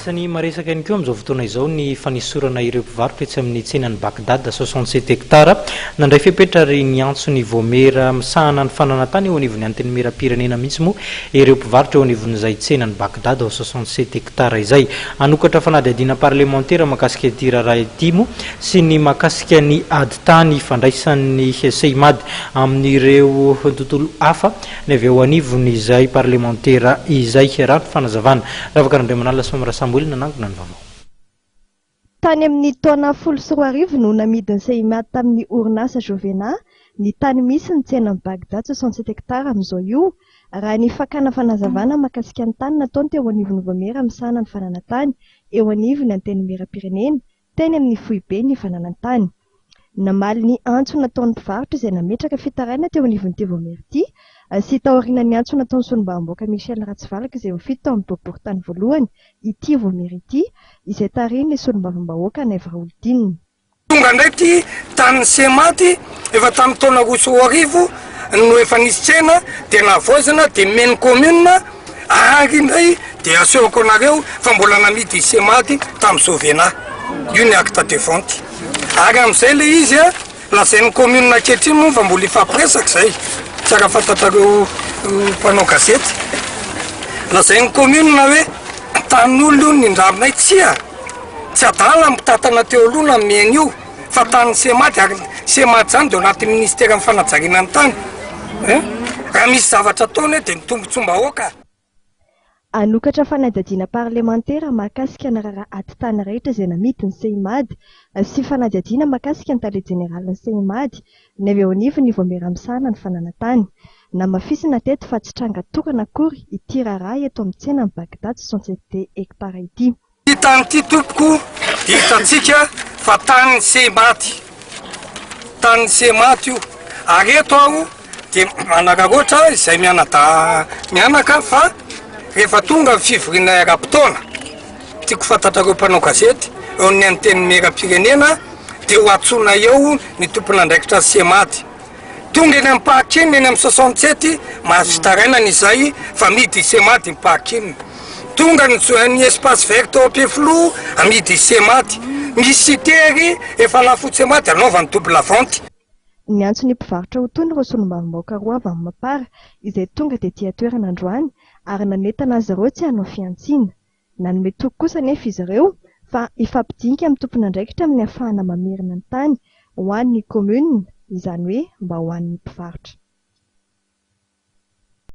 Asan'i Maresaka ihany koa amin'izao fotoana izao ny fanesorana ireo mpivarotra etsy amin'ny tsenan'i Bagdad, soixante sept hectares, nandray fepetra ary niantso ny Vaomiera misahana ny fananantany eo anivon'ny Antenimierampirenena mihitsy moa ireo mpivarotra eo anivon'izay tsenan'i Bagdad, soixante sept hectares, izay hanokatra fanadihadiana parlemantera mahakasika ity raharaha ity moa sy ny mahakasika ny ady tany ifandraisan'ny Seimad amin'ireo tontolo hafa ny avy eo anivon' izay parlemantera izay. Raha ny fanazavana. Ravaka Randraimanala sy Mamy Rasamboely nanangona ny vaovao. Tany amin' ny taona folo sy roa arivo no namidin' i Seymat tamin' ny orinasa Jovena ny tany misy ny tsenan' i Baghdad soixante sept hectares amin' izao io, raha ny fakana fanazavana mahakasika ny tany nataony teo anivon' ny Vaomiera misahana ny fananantany eo anivon' ny Antenimierampirenena, teny amin'ny foiben'ny fananan-tany. Namaly ny antso nataon'ny mpivarotra izay nametraka fitarainana teo anivon'ny TV Omerty sy taoriana ny antso nataon'ny solombavambahoaka Michel Ratsivalaka izay ho fito tao amin'ny boriborintany voalohany i TV Omerty izay tarihin'ny solombavambahoaka Naivo Raholidinina. Tonga indray ity tanin'i Sema ity efa tamin'ny taona roa sy roa arivo no efa nisy tsena dia nahavaozina dia nomen'ny commune Ary indray dia asehoko anareo fa mbola namidy i Semady tamin'i Jovena. Io ny acte de vente. Ary amin'izay ilay izy a, lazain'ny commune ankehitriny moa fa mbola hifampiresaka izay, tsara fantatrareo mpanao gazety. Lazain'ny commune hoe tanin'olona io ny nindramina io. Tsia, tsy adala ny mpitantana teo aloha nanome an'io. fa tanin'ny Cemad ary ny Cemad izany dia ao anatin'ny Ministeran'ny fanajariana ny tany. Raha misy zavatra ataony hoe dia ny tombontsoam-bahoaka. Hanokatra fanadihadiana parlemantera mahakasika ny raharaha atitany rehetra izay namidy ny Cemad sy fanadihadiana mahakasika ny tale jeneralin'ny Cemad ny avy eo anivon'ny Vaomiera misahana ny fananantany. Namafisina teto fa tsy tranga tokana akory ity raharaha eto amin'ny tsenan'i Baghdad soixante-sept hectares ity. Ity tany ity tompoko dia hitantsika fa tanin'ny sehy maty, tanin'ny sehy maty io, ary eto aho dia manararaotra izay mianadahy mianaka fa rehefa tonga ny fivoriana eram-potoana, tiako fantatrareo mpanao gazety eo amin'ny antenimieram-pirenena dia ho antsoina eo ny tompon'andraikitra ny sehy maty. Tonga eny amin'ny parking eny amin'ny soixante sept marche taranany izay fa midi i Semady ny parking. Tonga ny zo- ny espace vert tao Ampefiloha amidy i Semady. Misy site ery efa lafo i Semady anaovany double vente. Niantso ny mpivarotra ho tony ireo solombavambahoaka roa avy amin'ny Mapar izay tonga tetia toerana androany ary nanentana azy ireo tsy hanao fihantsiana. Nanome toky kosa anefa izy ireo fa hifampidinika amin'ny tompon'andraikitra amin'ny hafahana mamerina ny tany ho an'ny Commune, izany hoe mba ho an'ny mpivarotra.